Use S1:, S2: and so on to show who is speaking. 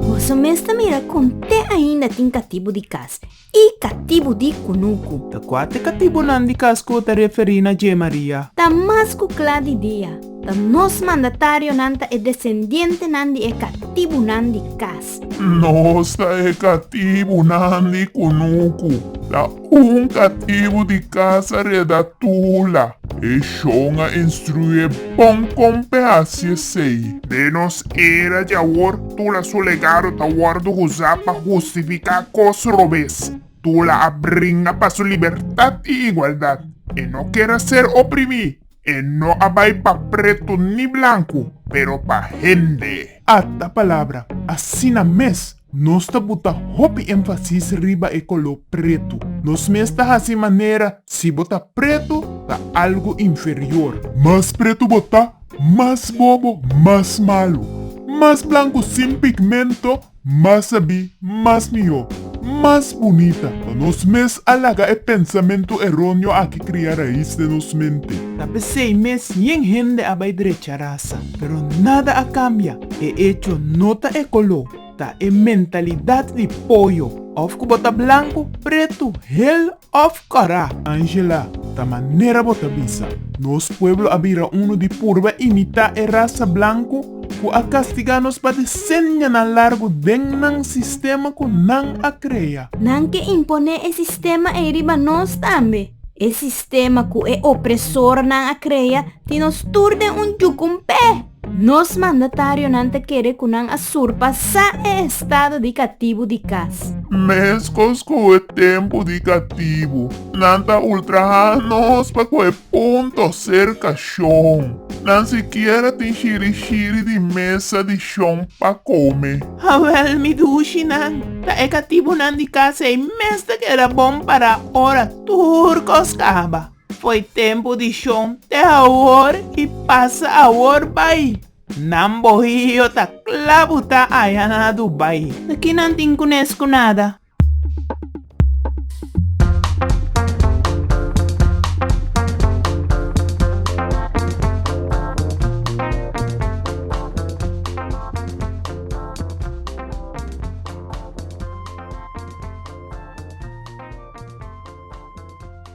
S1: Boso mes ta mira kon te ainda tin katibu di kas i katibu di kunuku. Ta kua te katibunan di kas ku bo ta referí na dje, Maria? Ta mas ku kla di dia, ta nos mandatarionan ta e desendientenan di e katibunan di kas. Nos ta e katibunan di kunuku. Ta un katibu di kasa reda Tula. E shon a instruié bon kon p'hasi esei. Den nos era di awor, Tula su legado ta wòrdu usá pa hustifiká kos robes. Tula a bringa pa su libertat i igualdat. E no keda ser oprimí. E no a bai pa pretu ni blanku, pero pa hende. Ata palabra. Asina mes, nos ta buta hopi énfasis riba e koló pretu. Nos mes ta hasi manera si bo ta pretu, ta algu inferior. Mas pretu bo ta, mas bobo, mas malu. Mas blanku sin pigmento, Mas sabí, mas mihó, mas bunita. Pa nos mes a laga e pensamentu eróneo aki kria rais den nos mente. Ta p'esei mes yen hende a bai drecha rasa. Pero nada a kambia. E echo no ta e koló, ta e mentalidat di poyo. Òf ku bo ta blanku, pretu, hel Of kara, Angela, ta manera bo ta bisa. Nos pueblo a bira unu di purba imitá e rasa blanku ku a kastigá nos pa desenyanan largu den nan sistema ku nan a krea. Nan ke imponé e sistema ei riba nos tambe, e sistema ku e opresornan a krea tin nos tur den un yuku un p'e. Nos mandatarionan ta kere ku nan a surpasá e estado di katibu di kas. Meskos ku e tempu di katibu, nan ta ultrahá nos pa ku e punto serka shon. Nan sikier a tin shirishiri di mesa di shon pa kome. Hawèl mi dushi nan, ta e katibunan di kas ei mes ta keda bon para ora tur kos kaba. Foi tempu di shon te awor y pasa awor bay. Nan bohio ta cla buta aya na Dubai. Ta ki nan tin cunes cu nada.